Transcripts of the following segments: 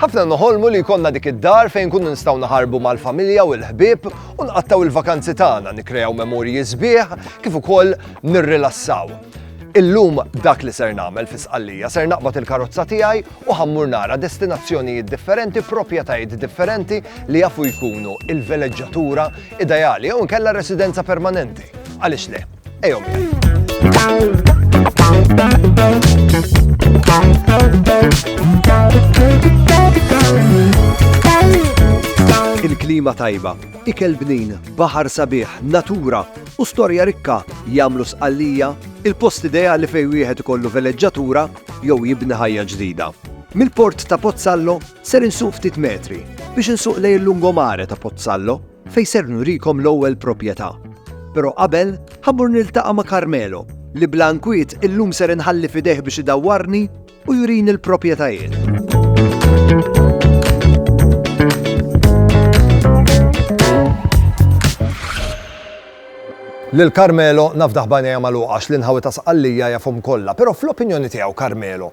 Ħafna noħolmu li jkollna dik id-dar fejn inkunu nistgħu naħarbu mal-familja u l-ħbieb u nqattgħu il-vakanzi tagħna, nikkreaw memorji sbieħ kif ukoll nirrilassaw. Illum dak li ser nagħmel fi Sqallija ser naqbad il-karozza tiegħi u ħammur nara destinazzjonijiet differenti, proprjetajiet differenti li jafu jkunu il-veleġġatura Ideali jew inkella residenza permanenti. Għaliex le? Ejjew miegħi. Il-klima tajba, ikel bnin, baħar sabiħ, natura u storja rikka jagħmlu sqallija il-post ideali fejn wieħed ikollu veleġġatura jew jibni ħajja ġdida. Mill-port ta' Pozzallo Ser insuq ftit metri biex insuq lejn il-lungomare ta' Pozzallo fejn ser nurikom l-ewwel propjetà. Però qabel, ħa mmur niltaqa' ma' Carmelo li bla nkwiet illum ser inħalli f'idejh biex idawwarni u jurini l-propjetajiet. Lil Carmelo nafdah b'għajnejha magħluqa għax l-inħawi ta' Sqallija jafhom kollha. Però fl-opinjoni tiegħu Carmelo,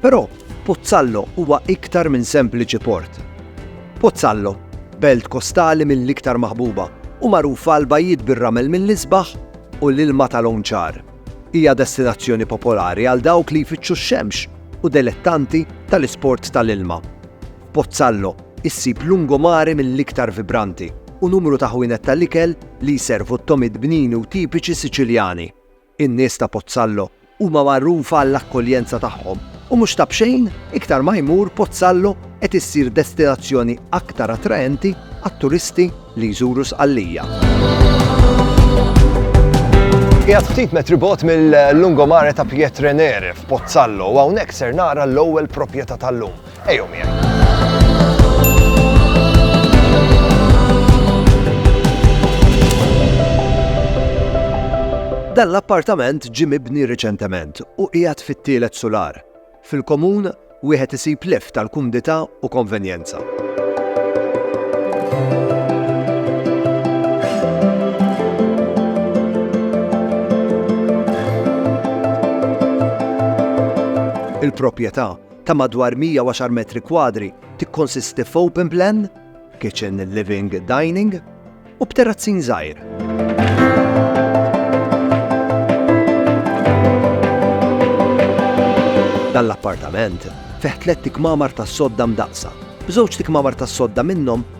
Però Pozzallo huwa iktar minn sempliċi port. Pozzallo, belt kostali mill-iktar maħbuba u magħrufa għal bajjiet bir-ramel mill-isbaħ u l-ilma ta' lawn ċar, hija destinazzjoni popolari għal dawk li jfittxu x-xemx u delettanti tal-isport tal-ilma. F'Pozzallo issib lungomare mill-iktar vibranti u numru ta' ħwienet tal-ikel li jservu t-tomid bnini u tipiċi Siċiljani. In-nies ta' Pozzallo huma magħrufa għall-akkoljenza tagħhom u mhux ta' b'xejn iktar ma jmur Pozzallo qed issir destinazzjoni aktar attraenti għat-turisti li jżuru Sqallija. Qiegħed ftit metri bogħod mill-Lungomare ta' Pietrenere f'Pozzallo u hawnhekk ser nara l-ewwel proprjetà tal-lum. Ejjew miegħi. Dan l-appartament ġie mibni riċentement u qiegħed fit-tielet sular. Fil-komun, wieħed isib leff tal-kumdità u konvenjenza. Il-proprjetà ta' madwar 110 metri kwadri tikkonsisti f'open plan, kitchen, living, dining, u b'terrazzin żgħir. Dan l-appartament fih tlett ikmamar tas-sodda mdaqqsa, b'żewġt ikmamar tas-sodda minnhom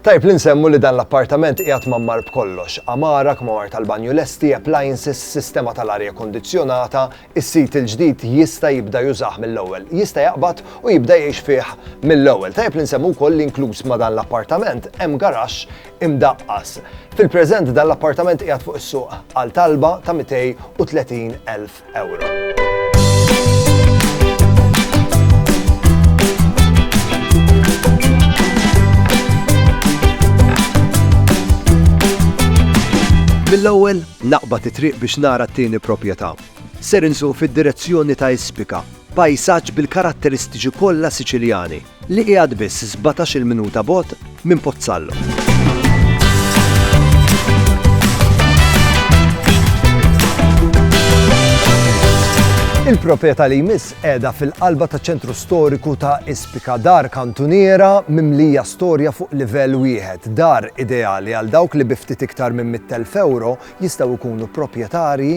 Tajjeb li nsemmu li dan l-appartament qiegħed mgħammar b'kollox, għamara, kmamar tal-banju lesti, appliances, sistema tal-arja kondizzjonata, is-sit il-ġdid jista' jibda jużah mill-ewwel, jista' jaqbad u jibda jgħix fih mill-ewwel. Tajjeb li nsemmu wkoll li inkluż ma' dan l-appartament hemm garaxx imdaqqas. Fil-preżent dan l-appartament qiegħed fuq is-suq għal talba ta' 230,000. Mill-ewwel naqbad it-triq biex nara t-tieni proprjetà. Ser insuq fid-direzzjoni ta' Ispika, pajsaġġ bil-karatteristiċi kollha Siċiljani. li qiegħed biss sbatax-il minuta bogħod minn Pozzallo. Il-proprjetà li jmiss qiegħda fil-qalba ta' ċentru storiku ta' Ispika dar kantuniera mimlija storja fuq livell wieħed, dar ideali għal dawk li biftit iktar minn 100,000 euro jistgħu jkunu proprjetarji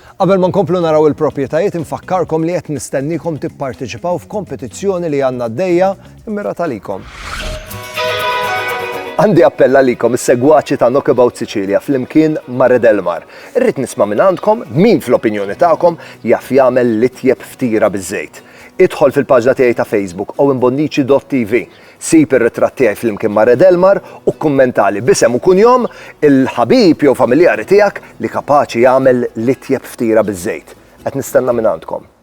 Qabel ma nkomplu naraw il-proprjetajiet infakkarkom li qed nistenniekom tipparteċipaw f'kompetizzjoni li għandna għaddejja mmirata għalikom. Għandi appell għalikom is-segwaċi ta' Knockabout Sicilia flimkien ma' Red Elmar. Irrid nisma' minn għandkom min fl-opinjoni tagħkom jaf jagħmel l-itjeb ftiera biż-żejt. Idħol fil-paġna tiegħi ta' Facebook Owen Bonnici dott TV. Sib ir-ritratt tiegħi flimkien ma' Red Elmar u kkummentali b'isem u kunjom il-ħabib jew familjari tiegħek li kapaċi jagħmel l-itjeb ftiera biż-żejt. Qed nistenna mingħandkom.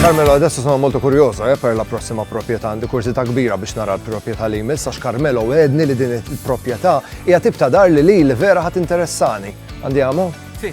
Carmelo, adesso sono molto curioso eh, per la prossima proprjetà, għandi kurzita kbira biex nara l-proprjetà li jmiss, għax Carmelo għedni li din il-proprjetà Hija tip ta' dar li lili vera ħa tinteressani. Andiamo? Si.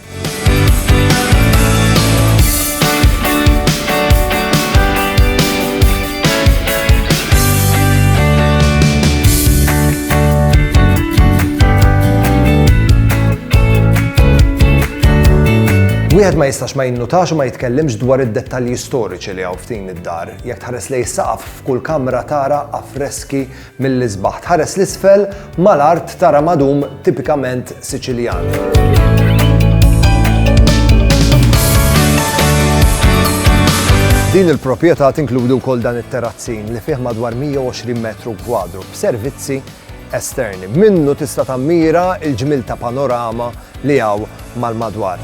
Wieħed ma jistax ma jinnutax u ma jitkellimx dwar id-dettalji storiċi li hawn f'din id-dar. Jekk tħares lejn is-saqaf f'kull kamra tara affreski Mill-isbaħ tħares 'l isfel, mal-art tara madum tipikament Siċiljan. Din il-proprjetà tinkludi wkoll dan it-terrazzin li fih madwar 120 metru kwadru b'servizzi esterni. Minnu tista' tammira il-ġmil ta' panorama li hawn mal-madwar.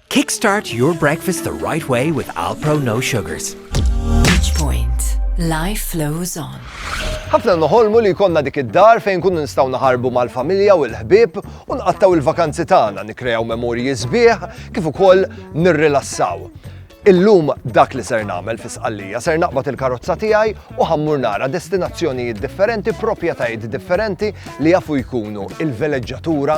Kickstart your breakfast the right way with Alpro No Sugars. Each point, life flows on. Ħafna noħolmu li jkollna dik id-dar fejn kun nistgħu naħarbu mal-familja u l-ħbieb u nqattaw il-vakanzi tagħna, nikrew memorji sbieħ kif ukoll nirrilassaw. Illum dak li ser nagħmel fi sqallija ser naqbad il-karozza tiegħi u ħammur nara destinazzjonijiet differenti, proprjetajiet differenti li jafu jkunu il-veleġġatura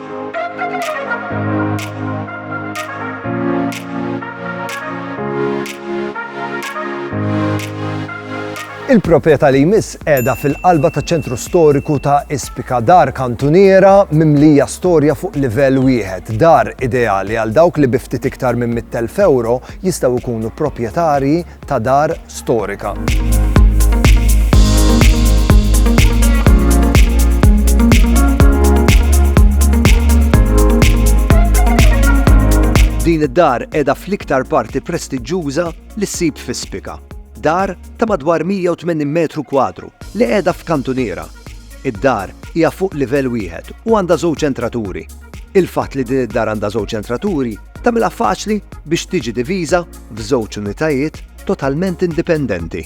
Il-proprjetà li jmiss qiegħda fil-qalba taċ-ċentru storiku ta' Ispika, dar kantuniera mimlija storja fuq livell wieħed, dar ideali għal dawk li bi ftit iktar minn 100,000 ewro jistgħu jkunu proprjetarji ta' dar storika. Din id-dar qiegħda fl-iktar parti prestiġġuża li ssib fi Spika. Dar ta' madwar 180 metru kwadru li qiegħda f'kantuniera. Id-dar hija fuq livell wieħed u għandha żewġ entraturi. Il-fatt li din id-dar għandha żewġ entraturi tagħmilha faċli biex tiġi diviża f'żewġ unitajiet totalment indipendenti.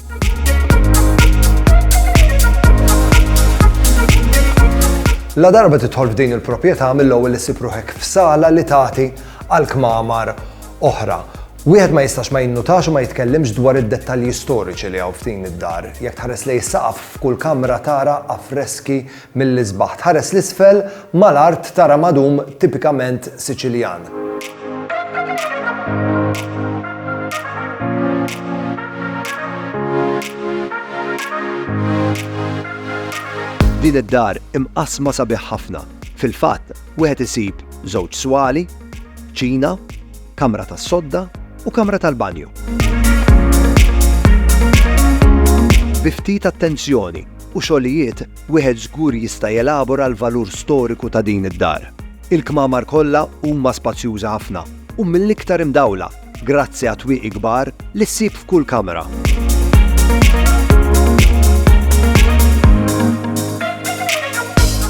La darba tidħol f'din il-proprjetà mill-ewwel li ssib ruħek f'sala li tagħti għal kmamar oħra. Wieħed ma jistax ma jinnutax u ma jitkellimx dwar id-dettalji storiċi li hawn f'din id-dar. Jekk tħares lej saqaf f'kull kamra tara affreski Mill-isbaħ tħares 'l isfel, mal-art tara madum tipikament Siċiljan. Din id-dar imqassma sabiħ ħafna. Fil-fatt, wieħed isib żewġ swali, kċina, kamra tas-sodda u kamra tal-banju. Bi ftit attenzjoni, u xogħlijiet, wieħed żgur jista' jelabora l-valur storiku ta' din id-dar. Il-kmamar kollha huma spazjużi ħafna u mill-iktar imdawla grazzi għat-twieqi kbar li ssib f'kull kamra.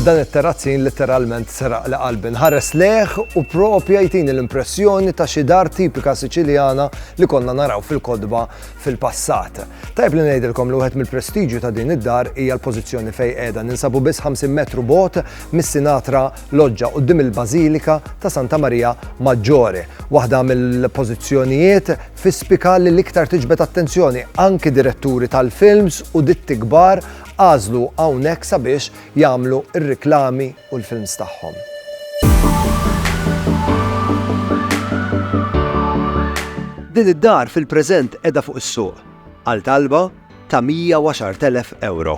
Dan it-terrazzin letteralment seraq li qalbi nħares leħ u propja jtini l-impressjoni ta' xi dar tipika Siċiljana li konna naraw fil-kodba fil-passat. Tajb li ngħidilkom li wieħed mill-prestiġju ta' din id-dar hija l-pożizzjoni fejn qiegħda ninsabu biss 50 metru bot mis-Sinatra Loġġa quddiem il-Bażilika ta' Santa Marija Maġġore. Waħda mill-pożizzjonijiet fi spika li l-iktar tiġbed attenzjoni anki diretturi tal-films u ditti kbar għażlu hawnhekk sabiex jagħmlu r-riklami u l-films tagħhom. Din id-dar fil-preżent qiegħda fuq is-suq għal talba ta' 110,000 ewro.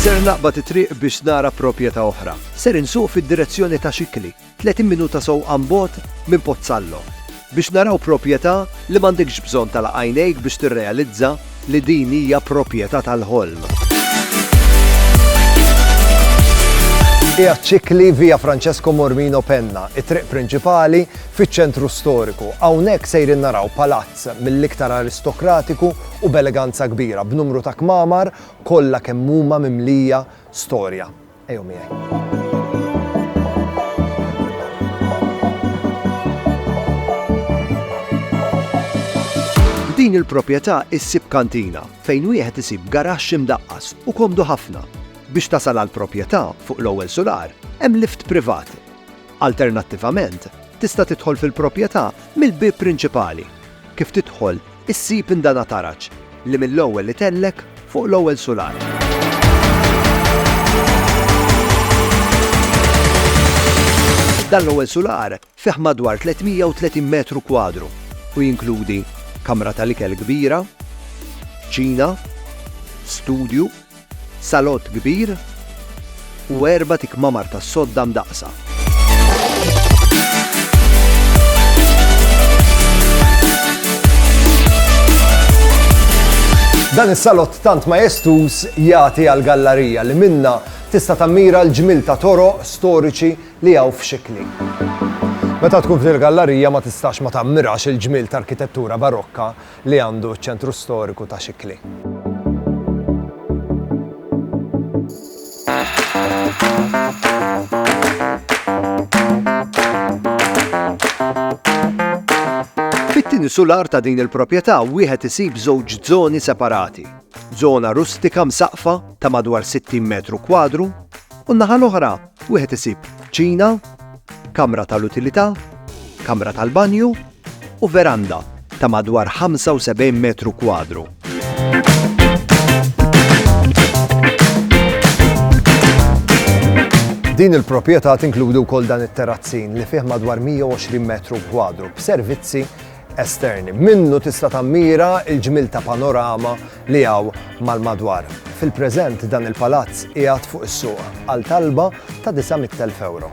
Ser naqbad it-triq biex nara proprjetà oħra. Ser insuq fid-direzzjoni ta' Xikli. 30 minuta sewqan 'l bogħod minn Pozzallo, biex naraw proprjetà li m'għandekx bżonn tagħlaq għajnejk biex tirrealizza li din hija proprjetà tal-ħolm. Qiegħed ċikli Via Francesco Mormino Penna, it-triq prinċipali fiċ-ċentru storiku. Hawnhekk sejrin naraw palazz mill-iktar aristokratiku u b'eleganza kbira, b'numru ta' kmamar kollha kemm huma mimlija storja. Ejjew miegħi. F'din il-proprjetà issib kantina fejn wieħed isib garaxx imdaqqas u komdu ħafna. Biex tasal għall-proprjetà fuq l-ewwel sular hemm lift privat. Alternattivament, tista' tidħol fil-proprjetà mill-bieb prinċipali. Kif tidħol Issib indanataraġ li mill-ewwel itellek fuq l-ewwel sular. Dan l-ewwel sular fih madwar 330 metru kwadru u jinkludi kamra tal-ikel kbira, kċina, studju, Salott kbir u erba' tikmamar tas-sodda mdaqqsa. Dan is-salott tant majestuż jagħti għall-gallarija li minnha tista' tammira l-ġmiel ta' toroq storiċi li hawn f'Xikli. Meta tkun f'dil-gallarija ma tistax ma tammirax il-ġmiel t'arkitettura barokka li għandu ċ-ċentru storiku ta' Xikli. Fit-tieni sular ta' din il-proprjetà wieħed isib żewġ żoni separati, żona rustika msaqqfa ta' madwar 60 metru kwadru u n-naħa l-oħra wieħed isib kċina, kamra tal-utilità, kamra tal-banju, u veranda ta' madwar 75 metru kwadru. Din il-proprjetà tinkludi wkoll dan it-terrazzin li fih madwar 120 metru kwadru b'servizzi esterni. Minnu tista' tammira il-ġmil ta' panorama li hawn mal-madwar. Fil-preżent dan il-palazz qiegħed fuq is-suq għal talba ta' 900,000 euro.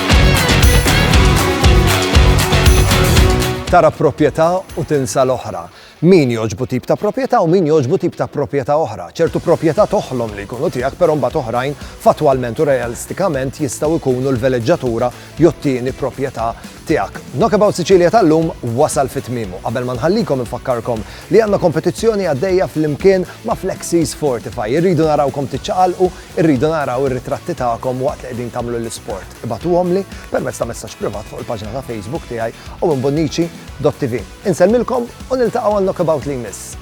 Tara proprjetà u tinsa l-oħra. Min jogħġbu tip ta' proprjetà u min jogħġbu tip ta' proprjetà oħra. Ċertu proprjetà toħlom li jkunu tiegħek però mbagħad oħrajn fattwalment u realistikament jistgħu jkunu l-veleġġatura jew t-tieni proprjetà tiegħek. Knockabout Sicilia tal-lum wasal fi tmiemu. Qabel ma nħallikom infakkarkom li għandna kompetizzjoni għaddejja flimkien ma' Flexies Fortify. Irridu narawkom tiċċaqalqu Irridu naraw ir-ritratti tagħkom waqt li qegħdin tagħmlu l-isport. Ibagħtuhomli permezz ta' messaġġ privat fuq il-paġna ta' Facebook tiegħi owenbonnici.tv. Insellmilkom u niltaqgħu għal Knockabout li jmiss.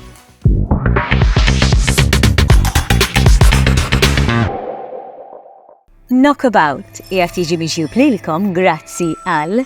Knockabout qiegħed jiġi mixjub lilkom grazzi għal